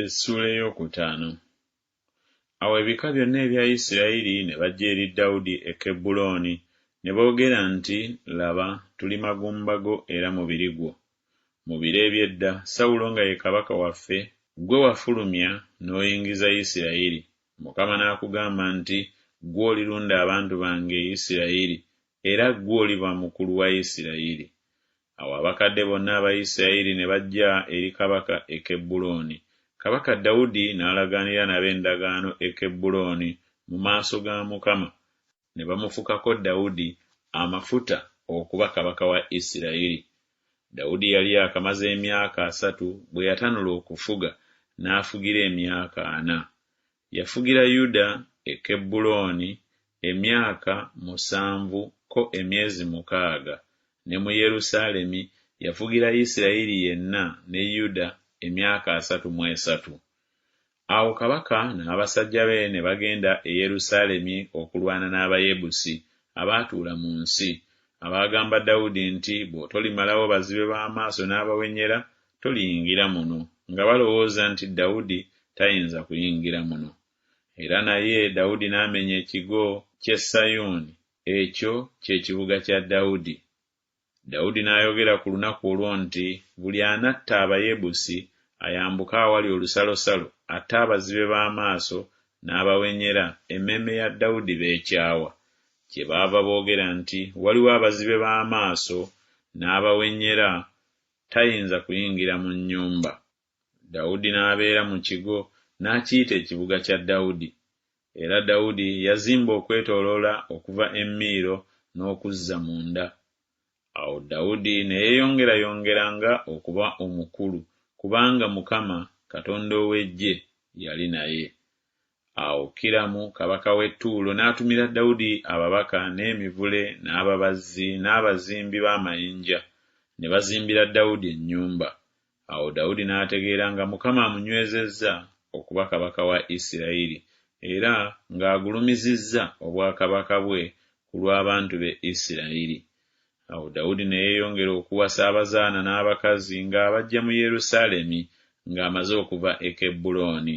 Essuula ey'okutaano. Awo ebika byonna ebya Isirayiri ne bajja eri Dawudi e Kebbulooni ne boogera nti, Laba, tuli magumba go era mubiri gwo. Mu biro eby'edda, Sawulo nga ye kabaka waffe, ggwe wafulumya n'oyingiza Isirayiri, Mukama n'akugamba nti, Ggwe olirunda abantu bange Isirayiri, era ggwe oliba mukulu wa Isirayiri. Awo abakadde bonna aba Isirayiri ne bajja eri kabaka e Kebbulooni, Kabaka Dawudi n'alagaanira nabo endagaano e Kebbulooni mu maaso ga Mukama, ne bamufukako Dawudi amafuta okuba kabaka wa Isirayiri. Dawudi yali yakamaze emyaka asatu bwe yatanula okufuga, n'afugira emyaka ana. Yafugira Yuda e Kebbulooni emyaka musanvu ko emyezi mukaaga, ne mu Yerusaalemi yafugira Yisirayiri yenna ne Yuda emyaka asatu mu esatu. Awo kabaka n'abasajja be ne bagenda e Yerusaalemi okulwana n'Abayebusi abaatuula mu nsi, abaagamba Dawudi nti, Bw'otolimalawo bazibe b'amaaso n'abawenyera, Toliyingira muno, nga balowooza nti Dawudi tayinza kuyingira muno. Era naye Dawudi n'amenya ekigo ky'e Sayuuni, ekyo ky'Ekibuga kya Dawudi. Dawudi n'ayogera ku lunaku olwo nti, Buli anatta Abayebusi ayambuke awali olusalosalo, atte abazibe b'amaaso n'abawenyera, emmeeme ya Dawudi b'ekyawa. Kyebaava boogera nti, Waliwo abazibe b'amaaso n'abawenyera tayinza kuyingira mu nnyumba. Dawudi n'abeera mu kigo n'akiyita Ekibuga kya Dawudi. Era Dawudi yazimba okwetooloola okuva e Miiro n'okuzza munda. Awo Dawudi ne yeeyongerayongeranga okuba omukulu, kubanga Mukama, Katonda ow'Eggye, yali naye. Awo Kiramu kabaka w'e Tuulo n'atumira Dawudi ababaka n'emivule n'ababazzi n'abazimbi b'amayinja, ne bazimbira Dawudi ennyumba. Awo Dawudi n'ategeera nga Mukama amunywezezza okuba kabaka wa Isirayiri, era ng'agulumizizza obwakabaka bwe ku lw'abantu be Isirayiri. Awo Dawudi ne yeeyongera okuwasa abazaana n'abakazi ng'abaggya mu Yerusaalemi ng'amaze okuva e Kebbulooni.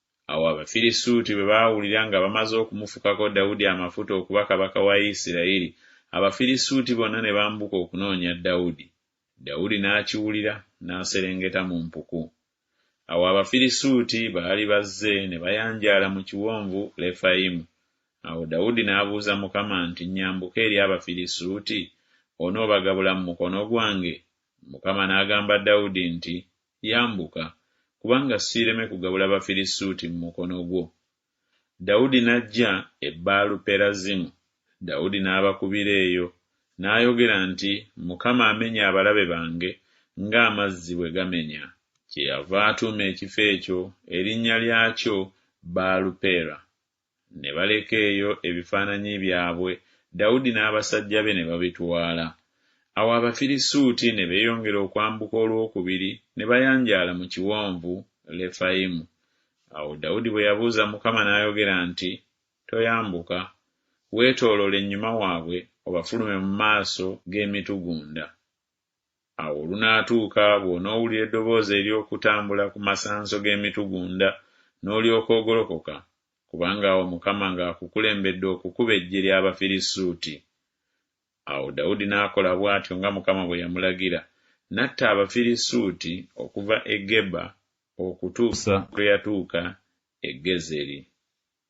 Awo Abafirisuuti bwe baawulira nga bamaze okumufukako Dawudi amafuta okuba kabaka wa Isirayiri, Abafirisuuti bonna ne bambuka okunoonya Dawudi. Dawudi n'akiwulira, n'aserengeta mu mpuku. Awo Abafirisuuti baali bazze ne bayanjaala mu kiwonvu Lefayimu. Awo Dawudi n'abuuza Mukama nti, Nnyambuke eri Abafirisuuti? Onoobagabula mu mukono gwange? Mukama n'agamba Dawudi nti, Yambuka, kubanga siireme kugabula Bafirisuuti mu mukono gwo. Dawudi n'ajja e Baalu-Perazimu, Dawudi n'abakubira eyo, n'ayogera nti, Mukama amenye abalabe bange ng'amazzi bwe gamenya. Kyeyava atuuma ekifo ekyo erinnya lyakyo Baalu-Peera, ne baleka eyo ebifaananyi byabwe, Dawudi n'abasajja be ne babitwala. Awo Abafirisuuti ne beeyongera okwambuka olwokubiri, ne bayanjaala mu Kiwonvu Lefayimu. Awo Dawudi bwe yabuuza Mukama n'ayogera nti, Toyambuka. Weetoolole ennyuma waabwe obafulume mu maaso g'emitugunda. Awo olunaatuuka bw'onoowulira eddoboozi ery'okutambula ku masanso g'emitugunda, n'olyoka ogolokoka, kubanga awo Mukama ng'akukulembedde okukuba eggye ly'Abafirisuuti. Awo Dawudi n'akola bw'atyo nga Mukama bwe yamulagira, n'atta Abafirisuuti okuva e Geba okutuusa lwe yatuuka e Gezeri.